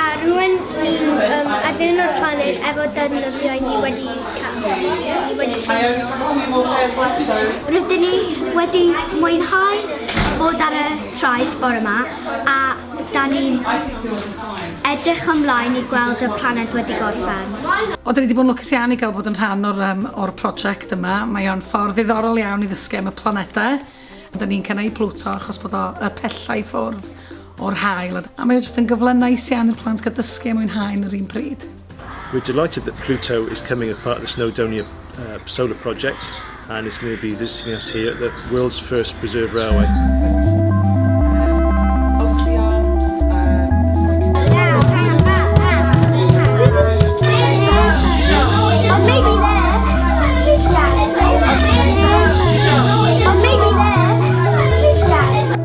A rwy'n ni'n um, addurno'r planed efo defnyddiau ni wedi cael. Ni wedi cael. Rydyn ni wedi mwynhau bod ar y traeth bore yma a da ni'n edrych ymlaen i gweld y planed wedi gorffen. O, da ni wedi bod yn lwcus iawn i gael bod yn rhan o'r, um, or prosiect yma. Mae o'n ffordd ddiddorol iawn i ddysgu am y planedau. Rydan ni'n cael eu plwto achos bod o y pellau i ffwrdd o'r hael a mae o jyst yn gyfle neis iawn i'r plant gael dysgu a mwynhau yn yr un pryd. We're delighted that Pluto is coming as part of the Snowdonia uh, solar project and is going to be visiting us here at the world's first preserved railway.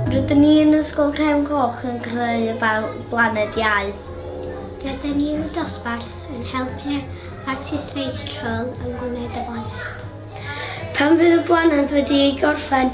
Rydyn ni yn Ysgol Cefn Coch yn creu y blaned iau. Rydyn ni yn y dosbarth yn helpu'r artist Rachel yn gwneud y blaned. Pan fydd y blaned wedi ei gorffen,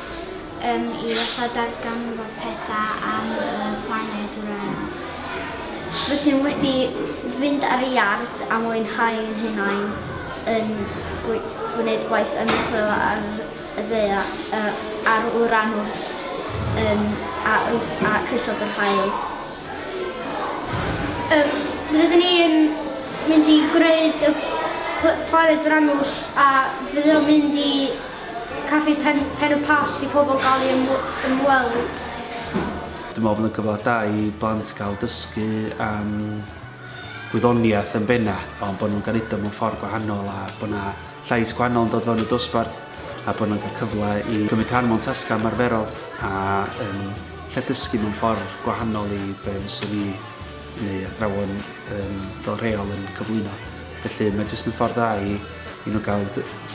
um, i wella darganfod pethau am y planed wrens. Rydym wedi fynd ar y iard a mwynhau yn hunain yn gwneud gwaith ymchwil ar y ddeia, ar Uranus um, a, a crysod yr hael. Um, rydyn ni yn mynd i gwneud y planed Uranus a fydd o'n mynd i Caffi pen, pen y pas i pobl gael ei ymweld. Dwi'n meddwl bod yn gyfle da i blant gael dysgu am gwyddoniaeth yn benna, ond bod nhw'n gael mewn ffordd gwahanol a bod yna llais gwahanol yn dod fewn y dosbarth a bod nhw'n cael cyfle i gymryd rhan mewn tasgau ymarferol a yn lle dysgu mewn ffordd gwahanol i be fyswn ni neu athrawon yn fel rheol yn cyflwyno. Felly mae jyst yn ffordd dda i i nhw gael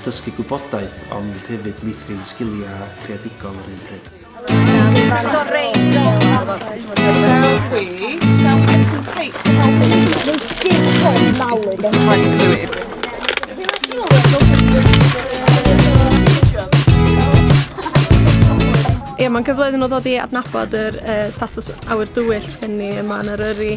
dysgu gwybodaeth ond hefyd meithrin sgiliau creadigol yr un pryd. Ie, mae'n cyfle iddyn nhw ddod i adnabod yr uh, status awyr dywyll gen ni yma yn Eryri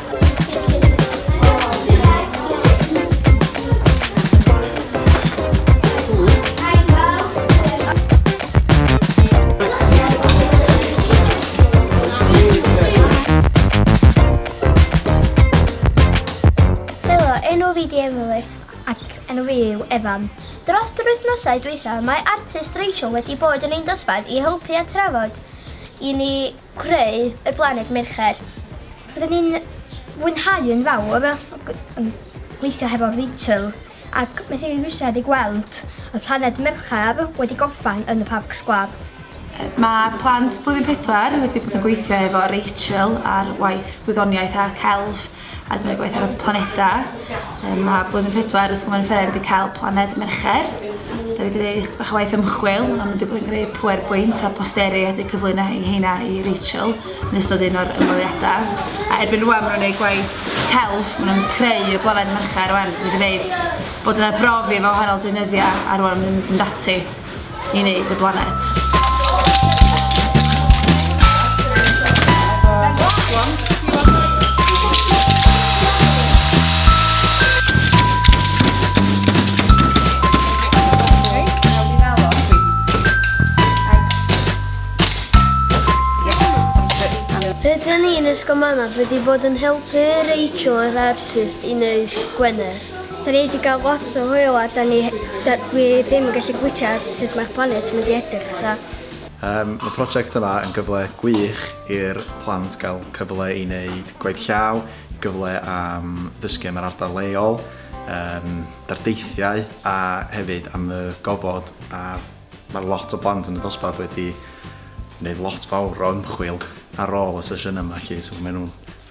Evan. Dros yr wythnosau dwytha, mae artist Rachel wedi bod yn ein dosbarth i helpu a trafod i ni Creu y blaned Mercher. Roedden ni'n fwynhau yn fawr yn gweithio hefo Rachel ac methu ei wisiad i gweld y planed Mercher wedi gorffen yn y Parc Sgwâr. Mae plant Blwyddyn Pedwar wedi bod yn gweithio efo Rachel ar waith gwyddoniaeth a celf. a dwi'n gweithio ar y planeta. Um, mae Blwyddyn Pedwar Ysgol Menfferau wedi cael planed Mercher. Da wedi gwneud bach o waith ymchwil, ond wedi bod yn gwneud pwer bwynt a posteri a wedi cyflwyno i heina i Rachel yn ystod un o'r ymweliadau. A erbyn rwan maen nhw'n gwneud gwaith celf, maen nhw'n creu y planed Mercher rwan. Wedi gwneud bod yna brofi efo hanol dynyddiau a rwan maen nhw'n mynd yn dati. i wneud y blaned. Rydyn ni'n ysgol Manaf wedi bod yn helpu Rachel yr artist i wneud Gwener. Da ni wedi cael lot o hwyl a da ni, da, dwi ddim yn gallu bwyta sut mae'r planet mynd i edrych fatha. Um, mae prosiect yma yn gyfle gwych i'r plant gael cyfle i wneud gwaith llaw, gyfle am ddysgu am yr ardal leol, um, dardeithiau a hefyd am y gofod a mae lot o blant yn y dosbarth wedi wneud lot fawr o ymchwil ar ôl y sesiynau yma chi, so maen nhw'n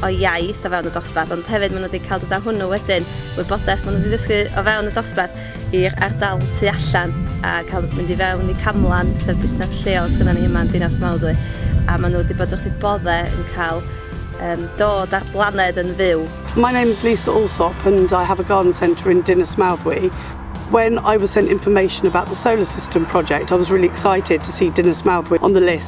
o iaith o fewn y dosbarth ond hefyd maen nhw wedi cael dod â hwnnw wedyn, wybodaeth maen nhw wedi ddysgu o fewn y dosbarth i'r ardal tu allan a cael mynd i fewn i Camlan sef busnes lleol sydd ni yma yn Dinas Mawddwy a maen nhw wedi bod wrth eu boddau yn cael um, dod ar blaned yn fyw. My name is Lisa Allsop and I have a garden centre in Dinas Mawddwy When I was sent information about the solar system project, I was really excited to see Dinas Mawddwy on the list.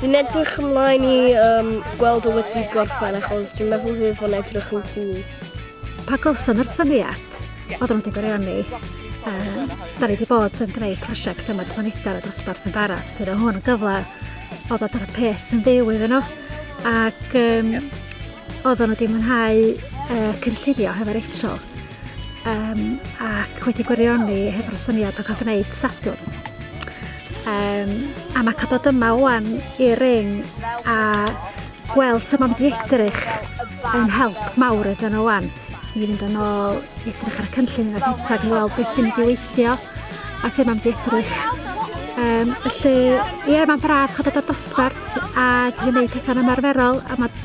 Dwi'n edrych ymlaen i um, gweld o wedi gorffen achos dwi'n meddwl fydd fo'n edrych yn cwl. Pa gawson nhw'r syniad? Oedden nhw wedi gwirioni. Um, da ni wedi bod yn gwneud prosiect yma planedau a dosbarth yn bara. Dwi'n hwn yn gyfle o ddod ar y peth yn ddew iddyn nhw. Ac um, oedden nhw wedi mwynhau uh, cynllunio hefo Rachel. Um, ac wedi gwirioni hefo'r syniad o cael gwneud sadwrn Um, a mae cael bod yma wan i'r ring a gweld sut mae'n edrych yn help mawr iddyn nhw wan. I fynd yn ôl, edrych ar y cynllun yn y bwytag i weld beth sy'n mynd i weithio a sut mae'n edrych. Um, felly, ie, yeah, mae'n braf cael bod ar dosbarth a gwneud pethau'n ymarferol a mae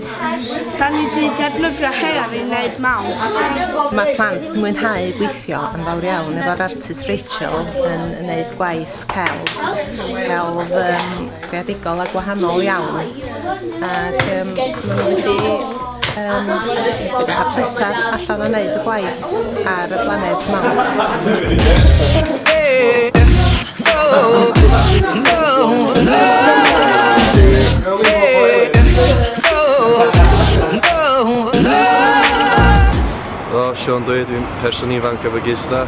Da ni di defnyddio her i wneud mawr. Mae plant yn mwynhau gweithio yn fawr iawn efo'r artist Rachel yn wneud gwaith celf, celf um, creadigol a gwahanol iawn. Ac um, maen nhw wedi um, hapusach allan yn wneud y gwaith. ar y blaned Helo, Siôn dwi, dwi'n person ifanc efo gista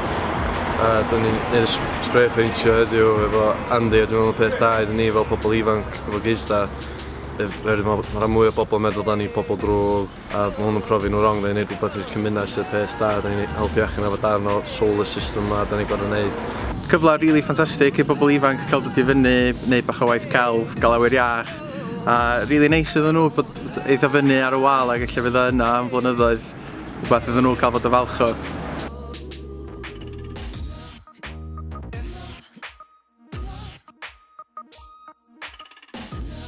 a dyn ni'n gwneud y spray peintio heddiw efo Andy a dwi'n meddwl peth da iddyn ni fel pobl ifanc efo geisda oherwydd mae rhan mwy o bobl yn meddwl dan ni pobl drwg a ma' hwn yn profi nhw wrong neu'n neud rhywbeth i'r cymuned sydd y peth da, da ni'n helpu achub efo darn o solar system ma' da ni'n gor'o' neud. Cyfle rili ffantastig i bobl ifanc cael dod i fyny, neud bach o waith celf, gael awyr iach, a rili neis iddyn nhw bod eitha fyny ar y wal ac ella fydd o yna am flynyddoedd, rhywbeth iddyn nhw cael fod yn falch o.